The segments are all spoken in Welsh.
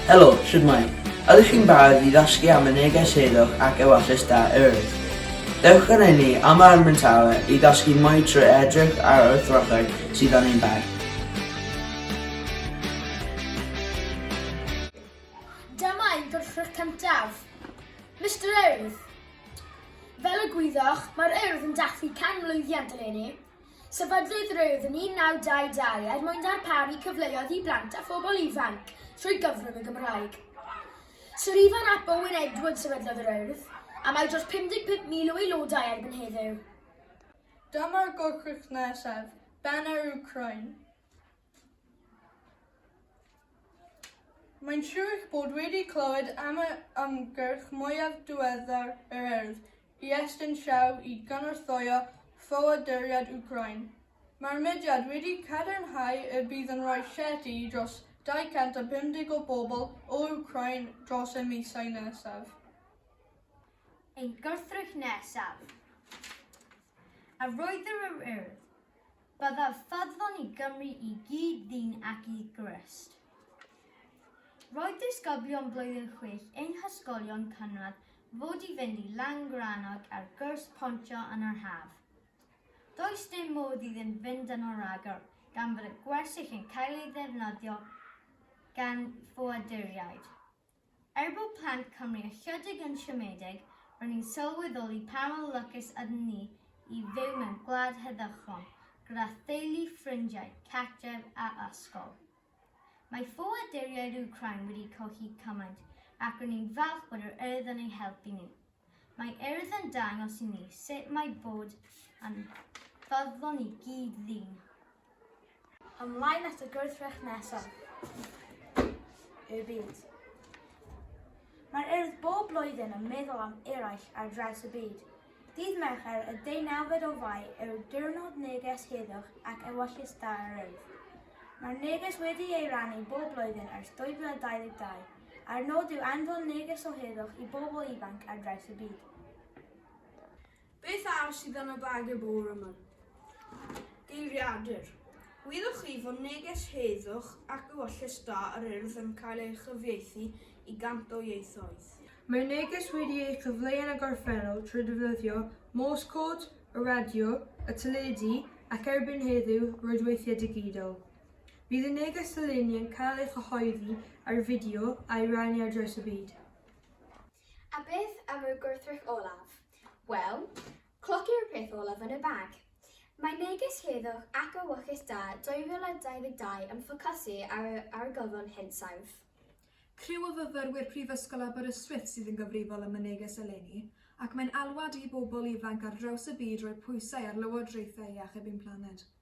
Helo, shwmae? Ydych chi'n barod i ddysgu am y neges heddwch ac ewyllys da Earth? Dewch yn enni am yr Armyn Tower i ddysgu mwy trwy edrych ar y throthau sydd yn ein bar. Dyma ein gwrthrych cyntaf. Mr Earth, Fel y gwyddoch, mae'r Urdd yn dathlu 100 mlwyddiant eleni. Sefydlwyd yr Urdd yn 1922 er mwyn darparu cyfleoedd i blant a phobl ifanc trwy gyfrwng y Gymraeg. Sir Ifan ap Owen Edwards sefydlodd yr Urdd, a mae dros 55,000 o aelodau erbyn heddiw. Dyma'r gwrthrych nesaf, Banner Ukraine. Mae'n siŵr eich bod wedi clywed am yr ymgyrch mwyaf diweddar yr Urdd i estyn llaw i gynorthwyo ffoaduriaid Wcráin. Mae'r mudiad wedi cadarnhau y bydd yn rhoi llety i dros 250 o bobl o Wcráin dros y misoedd nesaf. Ein gwrthrych nesaf. Arwyddir yr Urdd. Byddaf ffyddlon i Gymru i gyd ddyn ac i Grist. Roedd disgyblion blwyddyn chwech ein hysgolion cynradd fod i fynd i Langrannog ar gwrs pontio yn yr haf. Does dim modd iddyn fynd yno rhagor gan fod y gwersyll yn cael ei ddefnyddio gan ffoaduriaid. Er bod plant Cymru ychydig yn siomedig, ro'n i'n sylweddoli pa mor lwcus ydyn ni i fyw mewn gwlad heddychlon, gyda theulu, ffrindiau, cartref a ysgol. Mae ffoaduriaid Wcráin wedi colli cymaint, ac ro'n i'n falch bod yr Urdd yn eu helpu nhw. Mae Urdd yn dangos i ni sut mae bod yn ffyddlon i gyd ddyn. Ymlaen at y gwrthrych nesaf i'r byd. Mae'r Urdd bob blwyddyn yn meddwl am eraill ar draws y byd. Dydd Mercher y deunawfed o Fai yw Diwrnod Neges Heddwch ac Ewyllys Da yr Urdd. Mae'r neges wedi ei rannu bob blwyddyn ers 2022. a'r nod yw anfon neges o heddwch i bobl ifanc ar draws y byd. Beth arall sydd yn y bag y bore yma? Geiriadur. Wyddoch chi fod neges heddwch ac ewyllys da yr urdd yn cael ei chyfieithu i gant o ieithoedd? Mae neges wedi ei chyfleu yn y gorffennol trwy ddefnyddio Morse code, y radio, y teledu ac erbyn heddiw, rwydweithiau digidol. Bydd y neges eleni yn cael ei chyhoeddi ar fideo a'i rannu ar draws y byd. A beth am y gwrthrych olaf? Wel, cloc yw'r peth olaf yn y bag. Mae neges Heddwch ac Awychus Da 2022 yn ffocysu ar y argyfwng hinsawdd. Criw o fyfyrwyr Prifysgol Aberystwyth sydd yn gyfrifol am y neges eleni, ac mae'n alwad i bobl ifanc ar draws y byd roi pwysau ar lywodraethau i achub ein planed.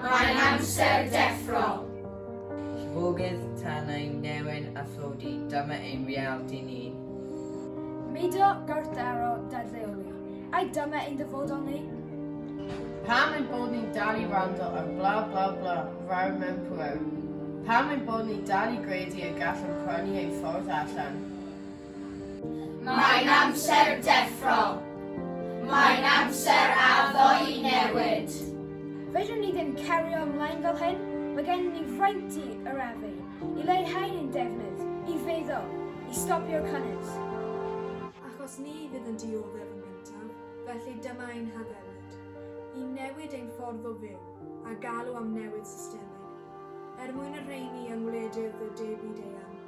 Mae'n amser deffro! Llifogydd, tanau, newen a thlodi, dyma ein realiti ni. Mudo, gwrthdaro, dadfeoli, ai dyma ein dyfodol ni? Pam ein bod ni'n dal i wrando ar bla bla bla, fawr mewn pŵer? Pam ein bod ni'n dal i gredu y gallwn prynu ein ffordd allan? Mae'n amser deffro. Mae'n amser addo i newid. Fedrwn ni ddim cario ymlaen fel hyn. Mae gennym ni fraint i arafu, i leihau ein defnydd, i feddwl, i stopio'r cynnydd. Achos ni fydd yn dioddef yn gyntaf, felly dyma ein haddewid, i newid ein ffordd o fyw a galw am newid systemig, er mwyn y rheini yng ngwledydd y de byd eang.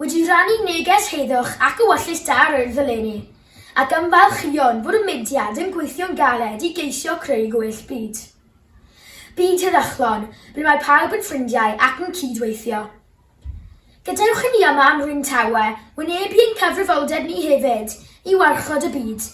wedi rhannu neges heddwch ac ewyllys da yr Urdd eleni, ac ymfalchïon bod y mudiad yn gweithio'n galed i geisio creu gwell byd. Byd heddychlon, ble mae pawb yn ffrindiau ac yn cyd-weithio. Gadewch i ni yma ym Mhryn Tawe wynebu ein cyfrifoldeb ni hefyd i warchod y byd